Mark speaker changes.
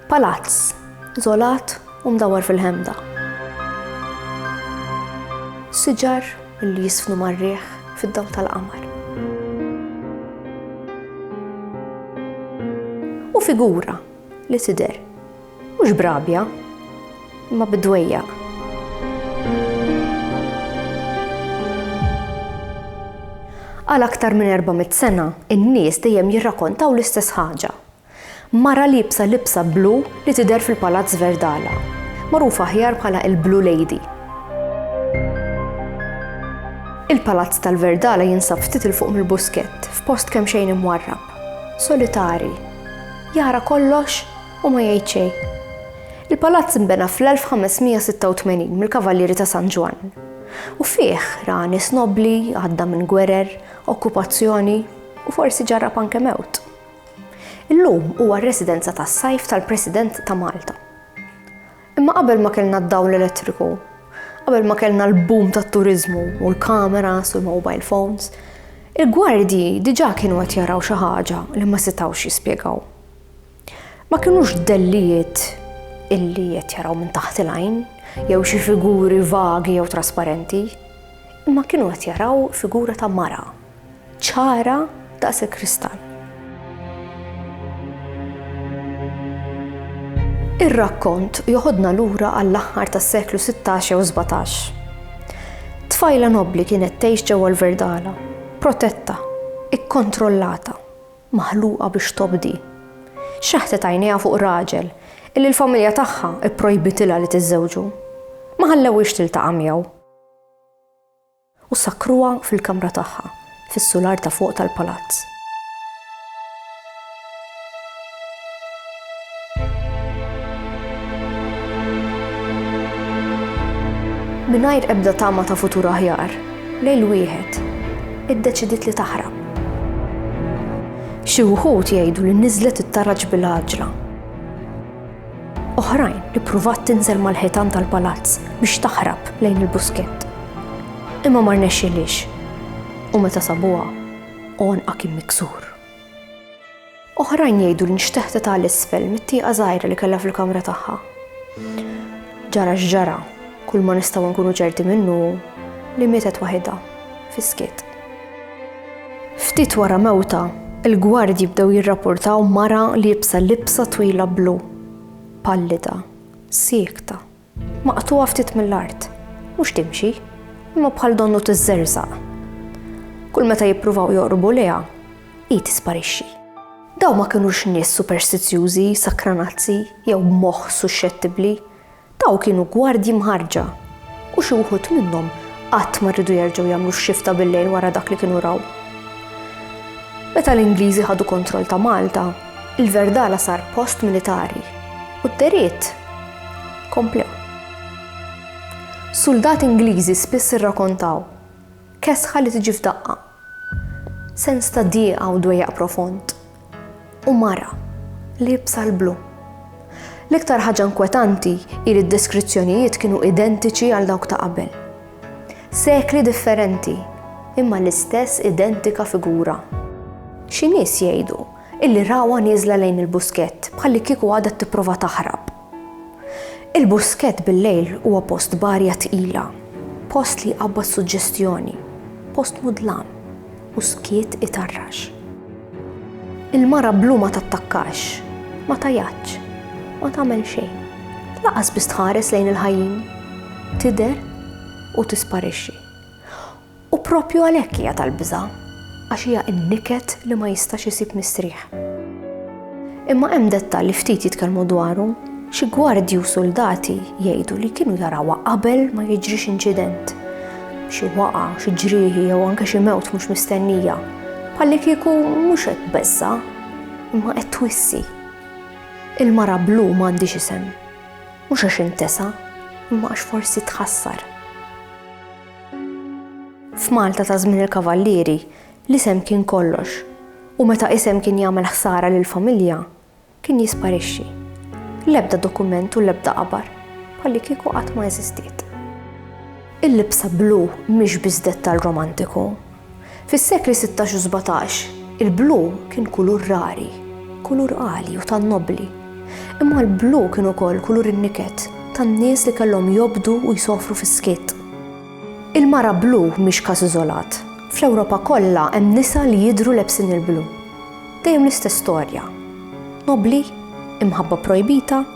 Speaker 1: Palazz, żolat u mdawwar fil-ħemda. Siġar li jisfnu mar-riħ fid-dawl tal-qamar. U figura li tidher mhux b'rabja, imma bid-dwejjaq. Għal aktar minn 400 sena, in-nies dejjem jirrakontaw l-istess ħaġa, Mara liebsa libsa blu li tidher fil-Palazz Verdala, magħrufa aħjar bħala il-Blue Lady. Il-Palazz tal-Verdala jinsab ftit 'il fuq mill-Buskett, f'post kemxejn imwarrab, solitari. Jara kollox u ma jgħid xejn. Il-palazz nbena fl-1586 mill-Kavallieri ta' San Ġwann. U fih ra nies nobbli, għadda minn gwerer, okkupazzjoni u forsi ġarrab anke mewt. Illum huwa r-residenza tas-sajf tal-President ta' Malta. Imma qabel ma kellna d-dawl elettriku, qabel ma kellna l-boom tat-turiżmu u l-kameras u l-mobile phones, il-gwardji diġà kienu qed jaraw xi ħaġa li ma setgħux jispjegaw. Ma kinux dellijiet illi qed jaraw minn taħt il-għajn jew xi figuri vagi jew trasparenti, imma kienu qed jaraw figura ta' mara. ċara daqs il-kristall. Ir-rakkont joħodna lura għall-aħħar tas-seklu 16 jew 17. Tfajla nobbli kienet tgħix ġewwa l-Verdala, protetta, ikkontrollata, maħluqa biex tobdi. Xaħtet għajnejha fuq raġel illi l-familja tagħha pprojbitilha li tiżżewġu. Ma ħallewhiex tiltaqa' miegħu. U sakkruha fil-kamra tagħha, fis-sular ta' fuq tal-palazz. Mingħajr ebda tama ta' futur aħjar, lejl wieħed, iddeċidiet li taħrab. Xi wħud jgħidu li niżlet it-taraġ bil-għaġla. Oħrajn ippruvat tinżel mal-ħitan tal-palazz biex taħrab lejn il-buskett. Imma ma rnexxilix u meta sabuha għonqa kien miksur. Oħrajn jgħidu li nxteħtet għal isfel mit-tieqa żgħira li kellha fil-kamra tagħha. Ġara x'ġara, kull ma nistgħu nkunu ċerti minnu li mietet waħidha, fiskiet. Ftit wara mewtha, il-gwardji bdew jirrapportaw mara liebsa libsa twila blu, pallida, siekta, maqtugħa ftit mill-art, mhux timxi, imma bħal donnu tiżżerżaq. Kull meta jippruvaw joqrbu lejha, hi tisparixxi. Dawn ma kinux nies superstizjużi, sakranazzi jew b'moħħ suxxettibbli, Dawn kienu gwardji mħarrġa, u xi wħud minnhom qatt ma riedu jerġgħu jagħmlu x-xifta bil-lejl wara dak li kienu raw. Meta l-Ingliżi ħadu kontroll ta' Malta, il-Verdala sar post militari u d-deriet komplew. Suldati Ingliżi spiss irrakontaw kesħa li tiġi f'daqqa Sens ta' dieqa u dwejjaq profond. U mara, liebsa l-blu. L-iktar ħaġa inkwetanti hi li d-deskrizzjonijiet kienu identiċi għal dawk ta' qabel. Sekli differenti, imma l-istess identika figura. Xi nies jgħidu illi rawha nieżla lejn il-buskett bħallikieku għadha tipprova taħrab. Il-buskett bil-lejl huwa post b'arja tqila, post li jqabbad suġġestjoni, post mudlam u skiet itarrax. Il-mara blu ma tattakkax, ma tgħajatx, ma tagħmel xejn, lanqas biss tħares lejn il-ħajjin, tidher u tisparixxi. U propju għalhekk hija tal-biża' għax hija n-niket li ma jistax isib mistrieħ. Imma hemm dettall li ftit jitkellmu dwaru, xi gwardji u suldati jgħidu li kienu jarawha qabel ma jiġrix inċident. Xi waqa, xi ġrieħi jew anke xi mewt mhux mistennija. Bħalli kieku mhux qed beżża, imma qed twissi. Il-mara blu m'għandix isem. Mhux għax intesa, imma għax forsi tħassar. F'Malta ta' żmien il-Kavallieri, l-isem kien kollox, u meta isem kien jagħmel ħsara lill-familja, kien jisparixxi. L-ebda dokument u l-ebda qabar, bħalli kieku qatt ma eżistiet. Il-libsa blu mhix biss dettall romantiku, Fis-sekli sittax u sbatax, il-blu kien kulur rari, kulur għali u tan-nobbli. Imma l-blu kien ukoll kulur in-niket tan-nies li kellhom jobdu u jsofru fis-skiet. Il-mara blu mhix każ iżolat. Fl-Ewropa kollha hemm nisa li jidhru lebsin il-blu. Dejjem l-istess storja. Nobbli? Imħabba pprojbita?